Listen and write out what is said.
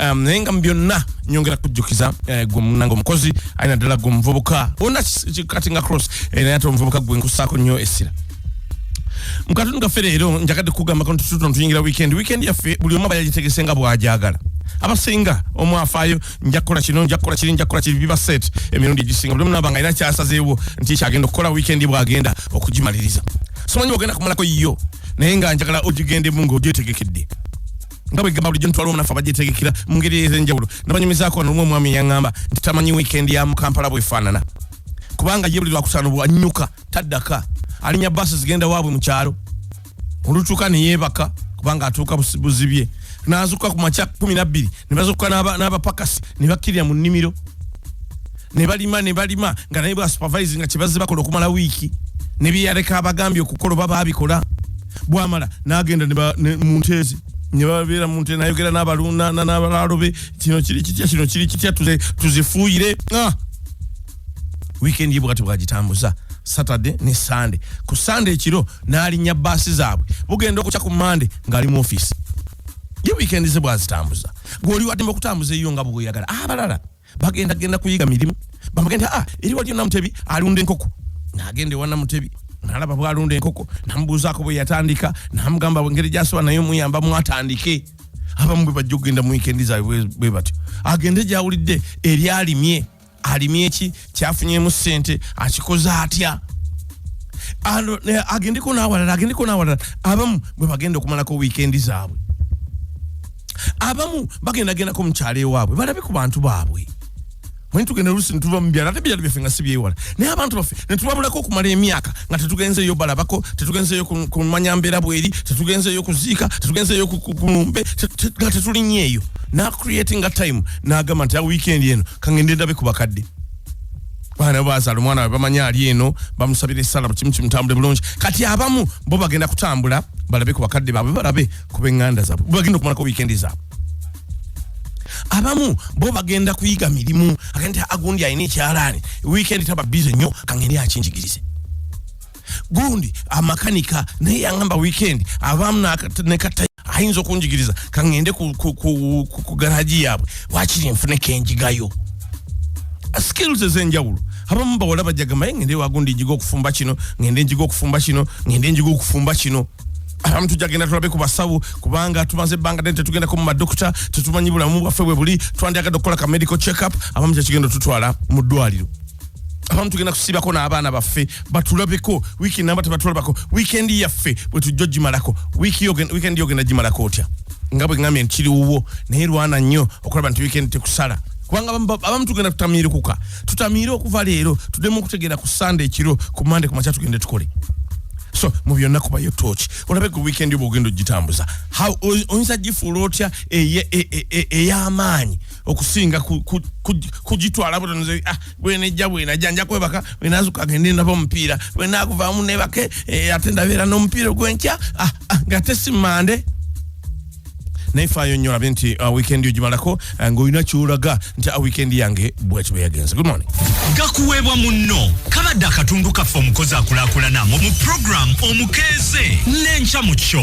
um, naye nga mu byonna nyongera kujjukiza eh, gwe munange omukozi alina ddala gwe omuvubuka ona kati nga cross eh, naye ate omuvubuka gwe nkusaako nnyo essira mu katundu gaffe leero njagadde kugamba kano tututono tuyingira weekend weekend yaffe buli omu aba yagitegese nga bw'agyagala abasinga omwafaayo nja kukola kino nja kukola kiri nja kukola kiri biba set emirundi egisinga buli omu naba nga alina kyasazeewo nti kyagenda okukola weekend bw'agenda okugimaliriza simanyi ogenda kumalako yo naye nga njagala ogigendemu ng'ogyetegekedde nga bwe gamba bulijjo ntwala omunafu abajetegekera mu ngeri ez'enjawulo nabanyumizaako nolumu omwami yaŋŋamba nti tamanyi wiikendi ya mu kampala bwefaanana kubanga ye buli lwakusano bwanyuka taddaka alinya baasi zigenda waabwe mu kyalo olutuuka ne yeebaka kubanga atuuka buzibye n'azuuka ku makya kumi nabbiri ne bazuuka n'abapakasi ne bakkirira mu nnimiro ne balima ne balima nga naye bwa supervising nga kibazze bakola okumala wiiki ne bye yaleka abagambye okukola oba baabikola bwamala n'agenda mu nteezi ne babeera mu nteezi nayogera n'abalunda n'abalaalo be kino kiri kitya kino kiri kitya tuzifuuyire ah! weekend ye bwati bwagitambuza saturday ne sunday ku sunday ekiro n'alinnya baasi zaabwe bugenda okukya ku monday ng'ali mu ofiisi ye weekend ze bwazitambuza gweoli waddemba okutambuza eyo nga bweoyagala abalala ah, bagenda genda kuyiga mirimu bamugenda ah eri waliyo namutebi alunda enkoko nagenda ewa namutebi nalaba bwalunda enkoko namubuuzaako bwe yatandika namugamba engeri gyasobola naye omuyamba mwatandike abamu bwe bajja okugenda mu wikendi zaabwe bwe batyo agende gyawulidde eryalimye alimye ki kyafunyemu ssente akikoze atya agendeko n'awalala agendeko n'awalala abamu bwe bagenda okumalako wiikendi zaabwe abamu bagenda gendako mukyalo ewaabwe balabe ku bantu baabwe mwe tugenda olusi netuva mubyalo ate byalo byaffe nga si byewala naye abantu baffe netubabulako okumala emyaka nga tetugenzeeyo balabako tetugenzeeyo kumanya mbeera bweri tetugenzeeyo kuziika tetugenzeeyo kumumbe nga tetulinyeeyo nacreatinga time nagamba nti a weekend eno kangende ndabe ku bakadde bana bazala omwana wabe bamanya ali eno bamusabira esala bukimu kimutambule bulungi kati abamu bo bagenda kutambula balabe ku bakadde baabwe balabe kuba eŋŋanda zaabwe bagenda okumalako wiikendi zaabwe abamu bo bagenda kuyiga mirimu agenti agundi alina ekyalaani wiikendi taba bize nnyo kangeri akinjigirize gundi amakanika naye yangamba wiikendi abamu nekata ayinza okunjigiriza kangende ku garagi yaabwe wakiri nfune kenjigayo skills ezenjawulo abamu bawala bajagamaye ngende wagundi njiga okufumba kino ngende njiga okufumba kino ngende njiga okufumba kino abamu tujja genda tulabe ku basawo kubanga tumaze ebbanga ddene tetugendako mu madokita tetumanyi bulamu bwaffe bwe buli twandyagadde okukola ka medical check up abamu kyekigenda otutwala mu ddwaliro abamu tugenda kusibako n'abaana baffe batulabeko wiiki namba tebatulabako wiikendi yaffe bwe tujja ogimalako wiikendi yogenda gimalako otya nga bwe ngambye nti kiri wuwo naye lwana nnyo okulaba nti wiikendi tekusala kubanga abamu tugenda tutamiirukuka tutamiire okuva leero tudemu okutegeera ku sande ekiro ku mande kumakya tugende tukole so mu byonna kubayo tooki olabe ku weekend oba ogenda ogitambuza oyinza gifuula otya ey'amaanyi okusinga kugitwala butonze ah, bwenejja bwenajja nja kwebaka bwenazuka agende ndaba omupiira bwenakuvaamu nebake eh, ate ndabeera n'omupiira ogwenkya ah, ah, ngate si mande naye faayo nnyo olabe nti uh, weekend ogimalako uh, ng'olina kyolaga nti uh, weekend yange bwekiba yagenze good morning gakuweebwa munno kabadde akatundu kaffe omukozi akulakulana mu program omukeeze n'enkya mu kyo